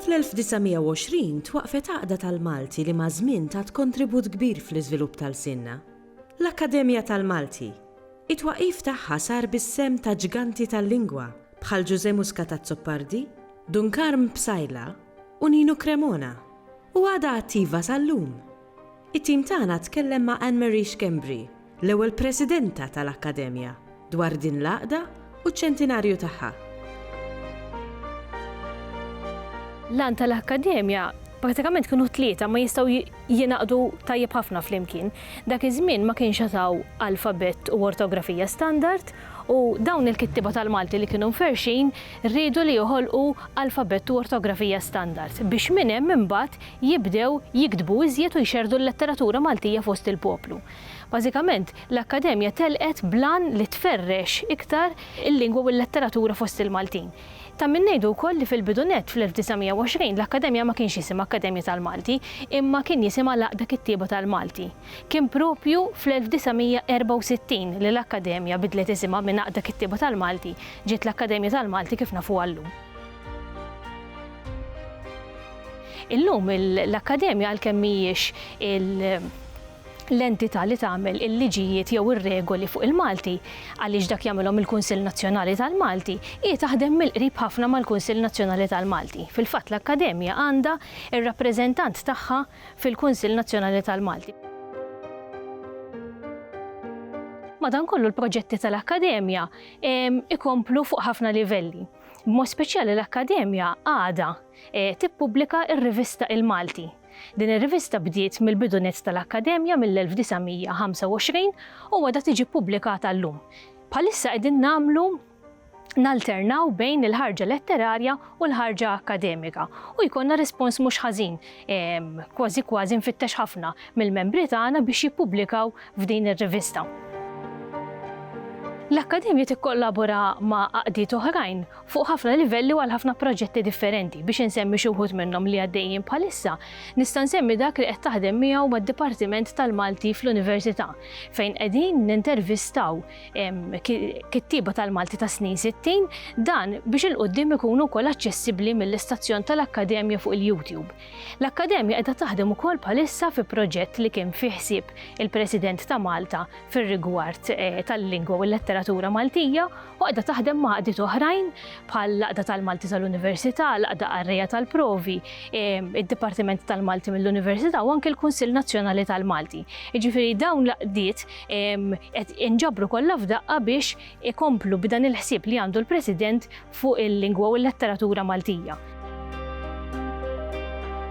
Fl-1920 twaqqfet Għaqda tal-Malti li maż-żmien tat kontribut kbir fl-iżvilupp ta' lsienna. L-Akkademja tal-Malti. It-twaqqif tagħha sar bis-sehem ta' ġganti tal-lingwa bħal Ġużè Muscat Azzopardi, Dunkarm Psaila u Nino Cremona u għadha attiva sal-lum. It-tim tagħna tkellem ma' Anne Marie Schembri, l-ewwel Presidenta tal-Akkademja, dwar din l-għaqda u ċ-ċentinarju tagħha. L-għan tal-Akkademja prattikament kienu tlieta ma jistgħu jingħaqdu tajjeb ħafna flimkien. Dak iż-żmien ma kienx għad hawn alfabett u ortografija standard, u dawn il-kittieba tal-Malti li kienu mferrxin riedu li joħolqu alfabett u ortografija standard biex minn hemm imbagħad jibdew jiktbu iżjed u jxerrdu l-letteratura Maltija fost il-poplu. Bażikament, l-Akkademja telqet bl-għan li tferrex iktar il-lingwa u l-letteratura fost il-Maltin. Ta' min ngħidu wkoll li fil-bidu nett, fl-1920, l-Akkademja ma kienx jisimha Akkademja tal-Malti, imma kien jisimha l-Għaqda Kittieba tal-Malti. Kien proprju fl-1964 li l-Akkademja bidlet isimha minn Għaqda Kittieba tal-Malti ġiet l-Akkademja tal-Malti kif nafuha llum. Illum l-Akkademja għalkemm mhijiex l-entità li tagħmel il-liġijiet jew ir-regoli fuq il-Malti, għaliex dak jagħmilhom il-Kunsill Nazzjonali tal-Malti, hi taħdem mill-qrib ħafna mal-Kunsill Nazzjonali tal-Malti. Fil-fatt l-Akkademja għandha r-rappreżentant tagħha fil-Kunsill Nazzjonali tal-Malti. Madankollu l-proġetti tal-Akkademja ikomplu fuq ħafna livelli. B'mod speċjali l-Akkademja għadha tippubblika r-rivista Il-Malti. Din ir-rivista bdiet mill-bidu nett tal-Akkademja mill-1925 u għadha tiġi ppubblikata llum. Bħalissa qegħdin nagħmlu nalternaw bejn il-ħarġa letterarja u l-ħarġa akkademika u jkollna rispons mhux ħażin, kważi kważi mfittex ħafna, mill-membri tagħna biex jippubblikaw f'din ir-rivista. L-Akkademja tikkollabora ma' għaqdiet oħrajn fuq ħafna livelli u għal ħafna proġetti differenti. Biex insemmi xi wħud minnhom li għaddejjin bħalissa, nista' nsemmi dak li qed taħdem miegħu mad-Dipartiment tal-Malti fl-Università, fejn qegħdin nintervistaw kittieba tal-Malti ta' snin 60, dan biex il-qudiem ikunu wkoll aċċessibbli mill-istazzjon tal-Akkademja fuq il-YouTube. L-Akkademja qiegħda taħdem ukoll bħalissa fi proġett li kien fih ħsieb il-President ta' Malta fir-rigward eh, tal-lingwa u l-letteratura Maltija u qiegħda taħdem ma' qdiet oħrajn bħal laqda tal-Malti tal-Università, laqda qarrejja tal-provi, eh, id-Dipartiment tal-Malti mill-Università u anke l-Kunsill Nazzjonali tal-Malti. Jiġifieri dawn l-qdiet inġabru kollha f'daqqa biex ikomplu b'dan il-ħsieb li għandu l-President fuq il-lingwa u l-letteratura Maltija.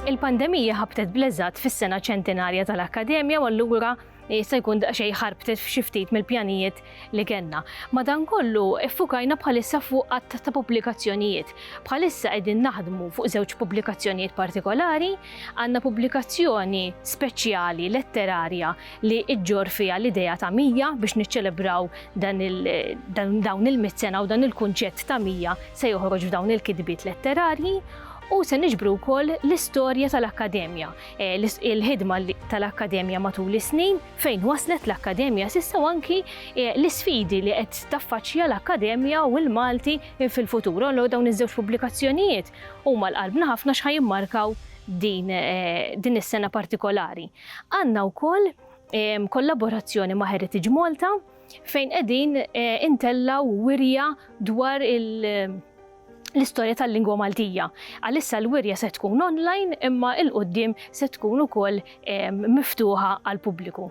Il-pandemija ħabtet bleżat fis-sena ċentinarja tal-Akkademja u allura jista' jkun daqsxejn ħarbtet f'xi ftit mill-pjanijiet li kellna. Madankollu iffukajna bħalissa fuq qatt ta' pubblikazzjonijiet. Bħalissa qegħdin naħdmu fuq żewġ pubblikazzjonijiet partikolari, għandna pubblikazzjoni speċjali letterarja li ġġorr fiha l-idea ta' mija biex niċċelebraw dawn il-mitt sena u dan il-kunċett ta' mija se joħroġ f'dawn il-kitbiet letterarji u se niġbru wkoll l-istorja tal-Akkademja, eh, il-ħidma tal-Akkademja matul is-snin, fejn waslet l-Akkademja s'issa u anki eh, l-isfidi li qed taffaċċja l-Akkademja u l-Malti fil-futur. Allo dawn iż-żewġ pubblikazzjonijiet huma l-qalbna ħafna x'ħajimmarkaw din eh, is-sena partikolari. Għandna wkoll kollaborazzjoni ma' Heritage Malta fejn qegħdin intellgħu wirja dwar l-istorja tal-lingwa Maltija. Għalissa l-wirja se tkun online imma il qudiem se tkun ukoll miftuħa għall-pubbliku.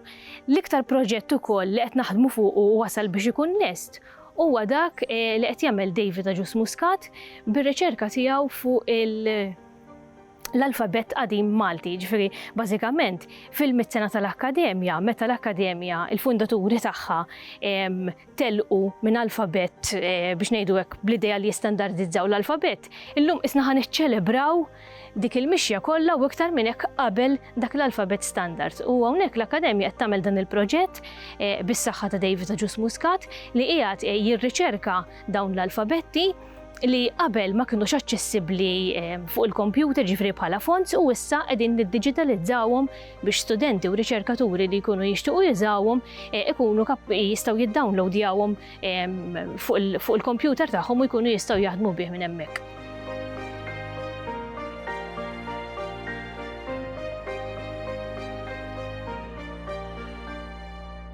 L-iktar proġett ukoll li qed naħdmu fuqu u wasal biex ikun lest huwa dak li qed jagħmel David Agius Muscat bir-riċerka tiegħu fuq il- l-alfabett qadim Malti, jiġifieri bażikament fil-mitt sena tal-Akkademja, meta l-Akkademja, il-fundaturi tagħha telqu minn alfabett eh, biex ngħidu hekk bl-idea li jistandardizzaw l-alfabett, illum isna ħa niċċelebraw dik il-mixja kollha u iktar minn hekk qabel dak l-alfabett standard. U hawnhekk l-Akkademja qed tagħmel dan il-proġett eh, bis-saħħa ta' David Ġus Muscat li qiegħed eh, jirriċerka Dawn l-alfabetti li qabel ma kinux aċċessibbli ehm, fuq il-kompjuter ġifri bħala fonts u issa qegħdin niddiġitalizzawhom biex studenti u riċerkaturi li jkunu jixtiequ jużawhom eh, ikunu jistgħu jiddownloadjawhom ehm, fuq il-kompjuter tagħhom u jkunu jistgħu jaħdmu bih minn hemmhekk.